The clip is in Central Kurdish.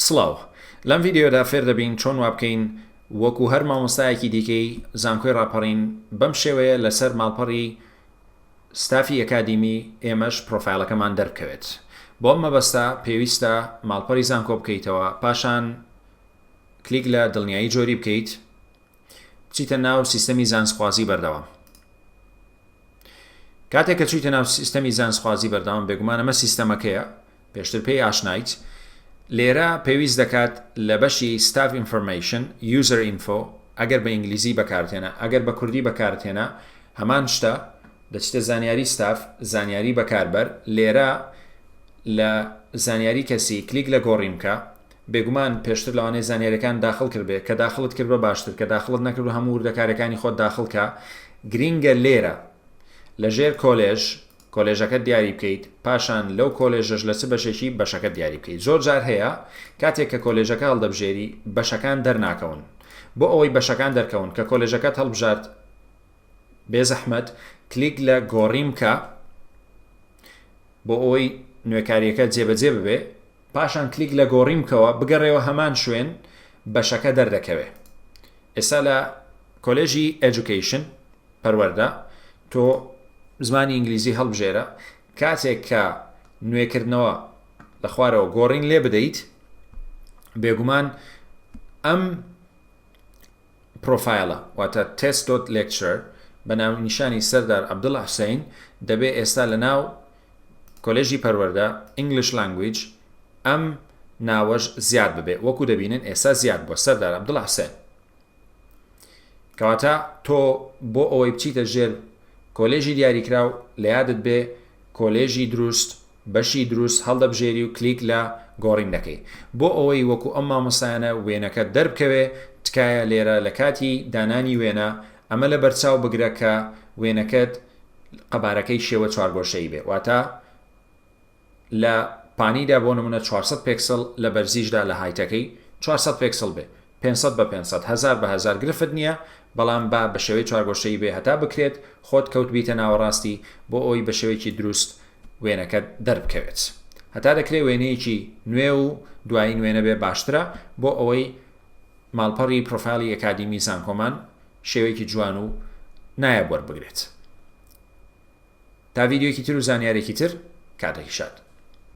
سڵاو لەم ڤیدیۆیەدا فێر دەبین چۆن وابکەین وەکو هەر مامۆستایەکی دیکەی زانکۆی ڕاپەڕین بەم شێوەیە لەسەر ماڵپەڕی ستافی ئەکادیمی ئێمەش پڕۆفایڵەکەمان دەربکەوێت بۆم مەبەستە پێویستە ماڵپەری زانکۆ بکەیتەوە پاشان کلیک لە دڵنیایی جۆری بکەیت بچیتە ناو سیستەمی زانستخوازی بەردەوام کاتێک کە چویتە ناو سیستەمی زانستخوازی بەردەوام بێگومان ئەمە سیستەمەکەیە پێشتر پێی ئاشنایت لێرە پێویست دەکات لە بەشی ستاف ئینفۆرمەیشن یوزەر ئینفۆ ئەگەر بە ئینگلیزی بەکارتێنە ئەگەر بە کوردی بەکارتێنە هەمان شتە دەچتە زانیاری ستاف زانیاری بەکاربەر لێرە لە زانیاری کەسی کلیک لە گۆڕیمکە بێگومان پێشتر لەوانەیە زانیاریەکانت داخڵ کردبێ کە داخڵت کردوە باشتر کە داخڵت نەکردوە هەموو وردەکاریەکانی خۆت داخڵ کە گرینگە لێرە لە ژێر کۆلێژ کۆلێژەکەت دیاری بکەیت پاشان لەو کۆلێژەش لە چ بەشێکی بەشەکەت دیاری بکەیت زۆر جار هەیە کاتێک کە کۆلێژەکە هەڵدەبژێری بەشەکان دەرناکەون بۆ ئەوەی بەشەکان دەرکەون کە کۆلێژەکەت هەڵبژارد بێزەحمەت کلیک لە گۆڕیم کە بۆ ئەوەی نوێکاریەکە جێبەجێ ببێ پاشان کلیک لە گۆڕین بکەوە بگەڕێوە هەمان شوێن بەشەکە دەردەکەوێ ئێستا لە کۆلێژی ئێجوکەیشن پەروەردە تۆ زمانی ئینگلیزی هەڵبژێرە کاتێک کە نوێکردنەوە لە خوارەوە گۆڕین لێ بدەیت بێگومان ئەم پرۆفایڵە واتە Test Dot Lecturer بە ناونیشانی سەردار عەبدوڵا حوسەین دەبێ ئێستا لە ناو کۆلێژی پەروەردە English Language ئەم ناوەش زیاد ببێ وەکو دەبینن ئێستا زیاد بووە سەردار عەبدوڵا حوسەین کەواتە تۆ بۆ ئەوەی بچیتە ژێر کۆلێژی دیاریکراو لە یادت بێ کۆلێژی دروست بەشی دروست هەڵدەبژێری و کلیک لە گۆڕین دەکەی بۆ ئەوەی وەکو ئەم مامۆستایانە وێنەکەت دەربکەوێ تکایە لێرە لە کاتی دانانی وێنە ئەمە لە بەرچاو بگرە کە وێنەکەت قەبارەکەی شێوە چوارگۆشەیی بێ واتە لە پانیدا بۆ نمونە چوار سەد پێکسڵ لە بەرزیشدا لە هایتەکەی چوار سەد پێکسڵ بێ پێنج سەد بە پێنج سەد، هەزار بە هەزار گرفت نیە، بەڵام با بە شێوەی چوارگۆشەیی بێ هەتا بکرێت خۆت کەوت بیتە ناوەڕاستی بۆ ئەوەی بە شێوەیەکی دروست وێنەکەت دەربکەوێت هەتا دەکرێ وێنەیەکی نوێ و دوایین وێنە بێ باشترە بۆ ئەوەی ماڵپەڕی پرۆفایلی ئەکادیمی زانکۆمان شێوەیەکی جوان و نایە بۆر بگرێت تا ڤیددیوکی تر و زانیارێکی تر کاتێکی شاد